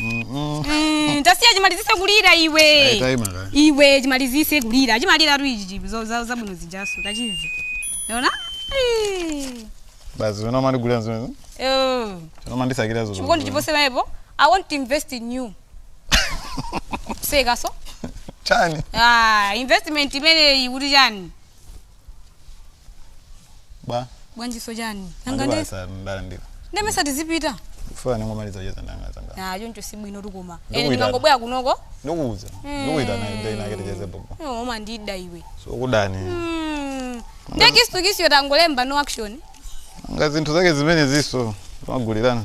Mm, tasiya chimalizise kulira iwe Ayi, tayima kaye. iwe chimalizise kulira chimalira tu ichi zo- za- zabwino zijaso tachiziona Basi zonama ligula nzo. Zona mali sakira zo. chikondi choposera apo i want to invest in you zakezo Chani. ah, investment imeneyi kuti chani bwa bwanjiso chani nanga nde ndi basa ndalandira ndimayesa tizipita funa ndingomaliza kucheza ndi anzanga ah choncho si bwino tu koma Ndikuyitana. ene ndingangobwera kunoko ndikuuza ndikuitana ndi anake ticheze bhobho iwe umandida iwe sindikuda Mm. nde kisu kisiyo tangolemba no action nga zinthu zake zimenezizo timagulirana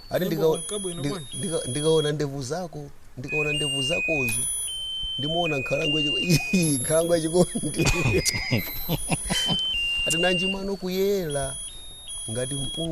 ati Nyimbo ndikaona- kunka bwino ndi- bwana. ndika- ndikaona ndevu zako ndikaona ndevu zakozo ndimaona nkhalango yachi- nkhalango yachikondi ati nanji mano kuyera ngati mpunga